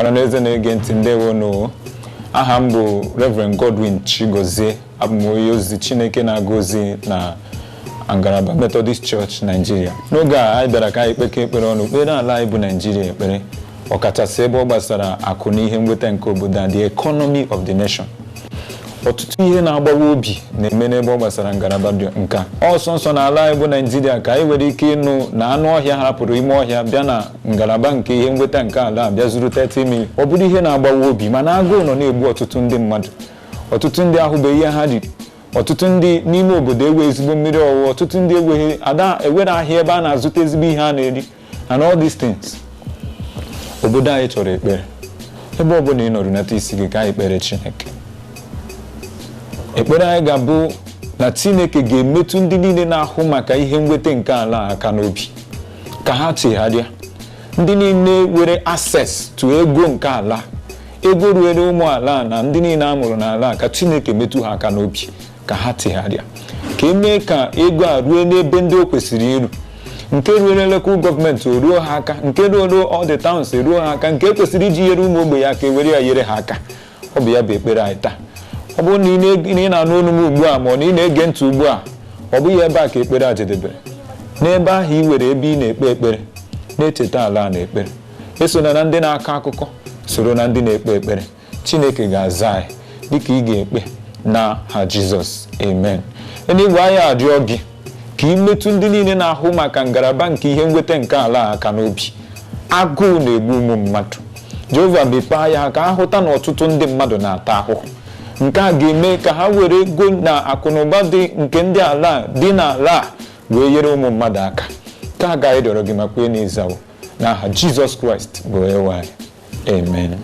ọha n'eze na-ege ntị ndewo nụ aha m bụ Reverend Godwin Chigozie abụ m onye ozi Chineke na-aga ozi na ngalaba Methodist Church Nigeria n'oge a anyị bịara ka anyị kpekọ ekpere ọnụ kpeere ala anyị bụ Nigeria ekpere ọkachasị ebe ọ gbasara akụ na ihe nweta nke obodo a the economy of the nation ọtụtụ ihe na-agbawa obi na-eme n'ebe ọ gbasara ngalaba dị nke a nso nso na ala anyị bụ naijiria ka anyị nwere ike ịnụ na anụ ọhịa hapụrụ ime ọhịa bịa na ngalaba nke ihe nweta nke ala a bịa zuru 30 million ọ bụrụ ihe na-agbawa obi mana agụụ nọ na-egbu ọtụtụ ndị mmadụ ọtụtụ ndị ahụbeghị ihe ha riri ọtụtụ ndị n'ime obodo enwe ezigbo mmiri ọṅụṅụ ọtụtụ ndị enweghị ada e nwere ahịa ebe a na-azụta ezigbo ihe a na-eri and all these things obodo anyị chọrọ ekpere ebe ọ bụla ị nọ runata isi gị ka anyị kpeere chineke ekpere anyị ga-abụ na chineke ga-emetụ ndị niile na-ahụ maka ihe nweta nke ala aka n'obi ka ha chegharịa ndị niile nwere access to ego nke ala ego ruere ụmụ ala na ndị niile a mụrụ n'ala ka chineke metụ ha aka n'obi ka ha chegharịa ka e mee ka ego a ruo n'ebe ndị o kwesịrị iru nke ruere local gọọmenti o ruo ha aka nke ruoro all the towns eruo ha aka nke kwesịrị iji nyere ụmụ ogbenye aka e were ya nyere ha aka ọ bụ ya bụ ekpere anyị taa ọ bụrụ na ị na-anụ olu m ugbu a ma ọ na ị na-ege ntị ugbu a ọ bụghị ebe a ka ekpere a jedebere n'ebe ahụ ị nwere ebe ị na-ekpe ekpere na-echeta ala a n'ekpere esona na ndị na-akọ akụkọ soro na ndị na-ekpe ekpere chineke ga-aza anyị dịka ị ga-ekpe n'aha jizọs amen eluigwe anyị arịọ gị ka ị metụ ndị niile na-ahụ maka ngalaba nke ihe nweta nke ala a aka n'obi agụụ na-egbu ụmụ mmadụ jehova mepee anya ha ka ha hụta na ọtụtụ ndị mmadụ na-ata ahụhụ nke a ga-eme ka ha were ego na akụnụba dị nke ndị ala a dị n'ala a wee nyere ụmụ mmadụ aka nke a ka anyị rịọrọ gị ma kwee na ị zawo n'aha jizọs kraịst bụ onyenwe anyị Amen.